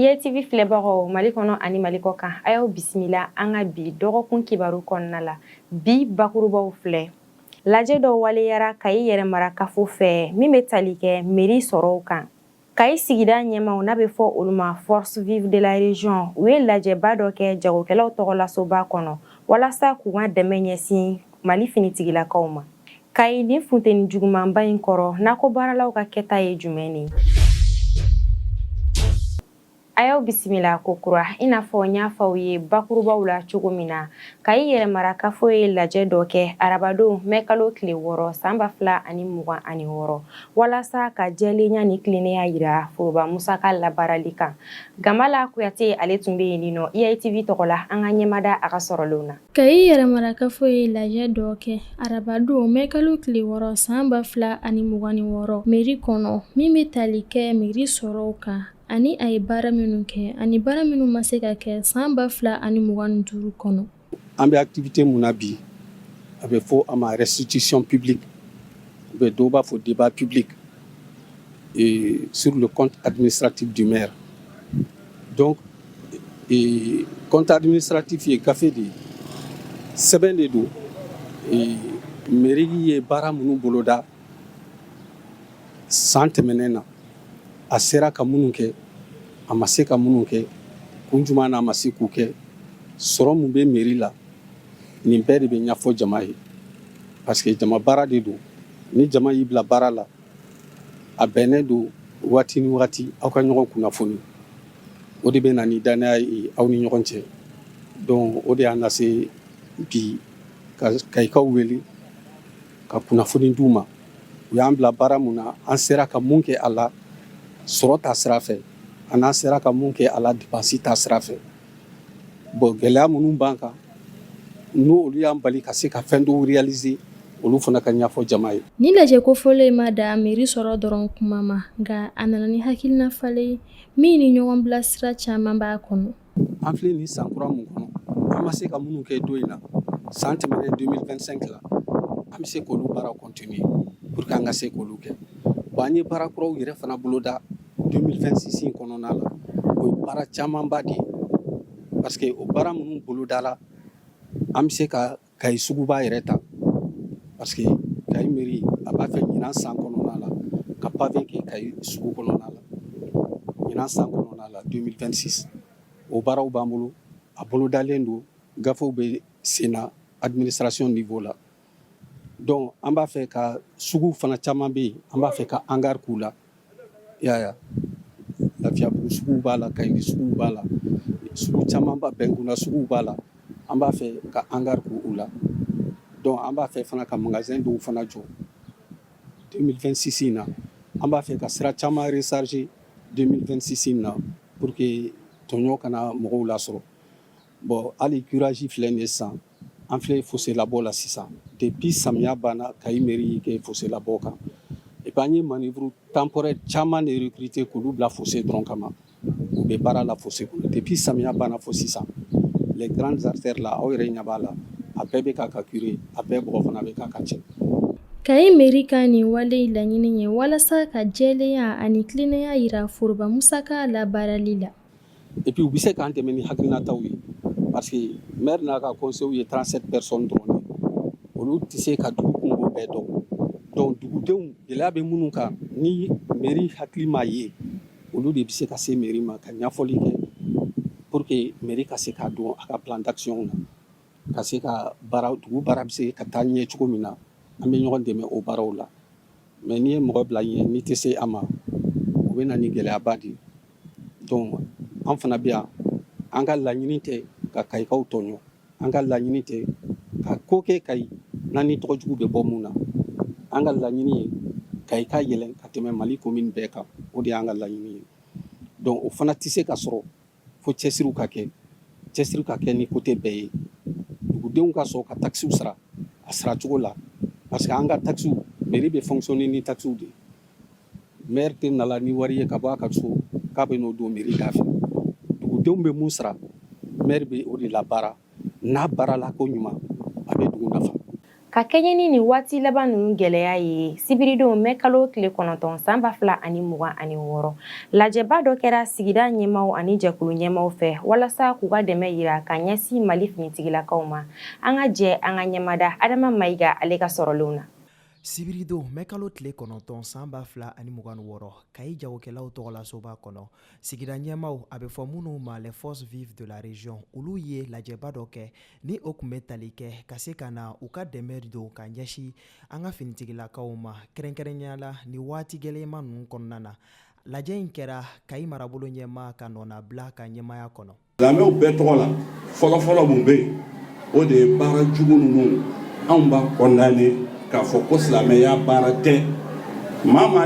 IYTV filɛbagaw Mali kɔnɔ ani Mali kɔkan, a y'aw bisimila an ka bi dɔgɔkun kibaru kɔnɔna la. Bi bakurubaw filɛ. Lajɛ dɔ waleyara Kayi yɛrɛmarakafo fɛ min bɛ tali kɛ meri sɔrɔw kan. Kayi sigida ɲɛmaaw n'a bɛ fɔ olu ma Forces Vives de la Région, u ye lajɛba dɔ kɛ jagokɛlaw tɔgɔla soba kɔnɔ walasa k'u ka dɛmɛ ɲɛsin Mali finitigilakaw ma Kayi nin funteni jugumanba in kɔrɔ nakɔ baaralaw ka kɛta ye jumɛn de ye? A y'aw bisimila kokura i n'a fɔ n y'a fɔ aw ye bakurubaw la cogo min na Kayi yɛrɛmarakafo ye lajɛ dɔ kɛ arabadon mɛkalo tile wɔɔrɔ san ba fila ani mugan ani wɔɔrɔ walasa ka jɛlenya ni tilennenya jira foroba musaka labaarali kan Gambala Kuyate ale tun bɛ yen nɔ IITV tɔgɔ la an ka ɲɛmada a ka sɔrɔlenw na. Kayi yɛrɛmarakafo ye lajɛ dɔ kɛ arabadon mɛkalo tile wɔɔrɔ san ba fila ani mugan ni wɔɔrɔ meri kɔnɔ min bɛ tali kɛ meri sɔrɔw kan ani a ye baara minnu kɛ ani baara minnu ma se ka kɛ san ba fila ani mugan ni duuru kɔnɔ an bɛ activité min na bi a bɛ fɔ a ma restitution publique u bɛ dɔw b'a fɔ débat public sur le compte administratif du maire Donc ee compte administratif ye gafe de ye, sɛbɛn de don ee mairie ye baara minnu boloda san tɛmɛnen na, a sera ka minnu kɛ, a ma se ka minnu kɛ, kun jumɛn na a ma se k'u kɛ, sɔrɔ min bɛ mairie la, nin bɛɛ de bɛ ɲɛfɔ jama ye parce que jama baara de don, ni jama y'i bila baara la. a bɛnnen don waati ni waati aw ka ɲɔgɔn kunnafoni o de bɛ na ni dannaya ye aw ni ɲɔgɔn cɛ don o de y'an lase bi ka Kayikaw wele ka kunnafoni di u ma u y'an bila baara min na an sera ka mun kɛ a la sɔrɔ ta sira fɛ ani an sera ka mun kɛ a la dépense ta sira fɛ Bon gɛlɛya minnu b'an kan n' olu y'an bali ka se ka fɛn dɔw réaliser olu fana ka ɲɛfɔ jama ye nin lajɛ kofɔlɔ in ma dan meri sɔrɔ dɔrɔn kuma ma nka a nana ni hakilina falen ye min ni ɲɔgɔn bilasira caman b'a kɔnɔ an filɛ nin san kura min kɔnɔ an ma se ka minnu kɛ don in na san tɛmɛnen 2025 la an bɛ se k'olu baara continuer pour k'an ka se k'olu kɛ wa an ye baara kuraw yɛrɛ fana boloda 2026 kɔnɔna na o ye baara camanba de ye parce que o baara minnu bolodala an bɛ se ka Kayi suguba yɛrɛ ta parce que Kayi mairie a b'a fɛ ɲinan san kɔnɔna la ka pavé kɛ Kayi sugu kɔnɔna la ɲinan san kɔnɔna la 2026 o baaraw b'an bolo a bolodalen don gafew bɛ sen na administration niveau la donc an b'a fɛ ka suguw fana caman bɛ yen an b'a fɛ ka hangar k'u la. y'a lafiyabugu sugu b'a la kayindi sugu b'a la sugu camanba bɛnkunda sugu b'a la an b'a fɛ ka hangar k'u la donc an b'a fɛ fana ka magasin dɔw fana jɔ deux mille vingt-six na an b'a fɛ ka sira caman recharger deux mille vingt-six na pour que tɔɲɔ kana mɔgɔw lasɔrɔ Bon hali curage filɛ nin sisan an filɛ foselabɔ la sisan depuis samiya banna kayi mairie kɛ foselabɔ kan i b'an ye manœuvre temporaire caman de recruter k'olu bila fose dɔrɔn kama u bɛ baara la fose depuis samiya banna fo sisan les grandes artères la aw yɛrɛ ɲɛ b'a la a bɛɛ bɛ ka ka curer a bɛɛ bɔgɔ fana bɛ ka ka cɛ kayi mairie ka nin wale laɲini ye walasa ka jɛlenya ani tilennenya jira foroba musaka labaarali la epi u bɛ se k'an dɛmɛ ni hakilinataw ye parce que maire n'a ka conseil ye 37 personnes dɔrɔn de olu tɛ se ka dugu kunko bɛɛ dɔn donc dugudenw gɛlɛya bɛ minnu kan ni mairie hakili m'a ye olu de bɛ se ka se mairie ma ka ɲɛfɔli kɛ pour que mairie ka se k'a dɔn a ka plan d'action na ka se ka baara dugu baara bɛ se ka taa ɲɛ cogo min na an bɛ ɲɔgɔn dɛmɛ o baaraw la mais n'i ye mɔgɔ bila ɲɛ n'i tɛ se a ma o bɛ na ni gɛlɛyaba de ye an fana bɛ yan an ka laɲini tɛ ka kayikaw tɔɲɔ an ka laɲini tɛ ka ko kɛ kayi n'an ni tɔgɔ jugu bɛ bɔ min na an ka laɲini ye kayi ka yɛlɛn ka tɛmɛ mali commune bɛɛ kan o de y'an ka laɲini ye donc o fana tɛ se ka sɔrɔ fo cɛsiri ka kɛ cɛsiri ka kɛ ni côté bɛɛ ye dugudenw ka sɔn ka takisiw sara a saracogo la parce que an ka takisiw mairie bɛ fonctionner ni takisiw de ye Mɛri tɛ na ni wari ye ka bɔ a ka so k'a bɛ n'o don mɛri da fɛ dugudenw bɛ min sara mɛri bɛ o de labaara n'a baarala ko ɲuman a bɛ dugu nafa ka kɛɲɛ ni nin waati laban ninnu gɛlɛya ye sibiridon mɛkalo tile kɔnɔntɔn san ba fila ani mugan ani wɔɔrɔ lajɛba dɔ kɛra sigida ɲɛmaw ani jɛkulu ɲɛmaw fɛ walasa k'u ka dɛmɛ jira ka ɲɛsin mali finitigilakaw ma an ka jɛ an ka ɲɛmada adama mayiga ale ka sɔrɔlenw na sibiridon mɛkalo tile kɔnɔntɔn san ba fila ani mugan ni wɔɔrɔ kayi jagokɛlaw tɔgɔlasoba kɔnɔ sigida ɲɛmaw a bɛ fɔ minnu ma les forces vives de la région olu ye lajɛba dɔ kɛ ni o tun bɛ tali kɛ ka se ka na u ka dɛmɛ don ka ɲɛsin an ka finitigilakaw ma kɛrɛnkɛrɛnnenya la ni waati gɛlɛyama ninnu kɔnɔna na lajɛ in kɛra kayi marabolo ɲɛmaa ka nɔnabila ka ɲɛmaya kɔnɔ Silamɛw bɛɛ tɔgɔ la fɔlɔfɔlɔ minnu bɛ yen o de ye baara jugu ninnu anw b'a condamner k'a fɔ ko silamɛya baara tɛ maa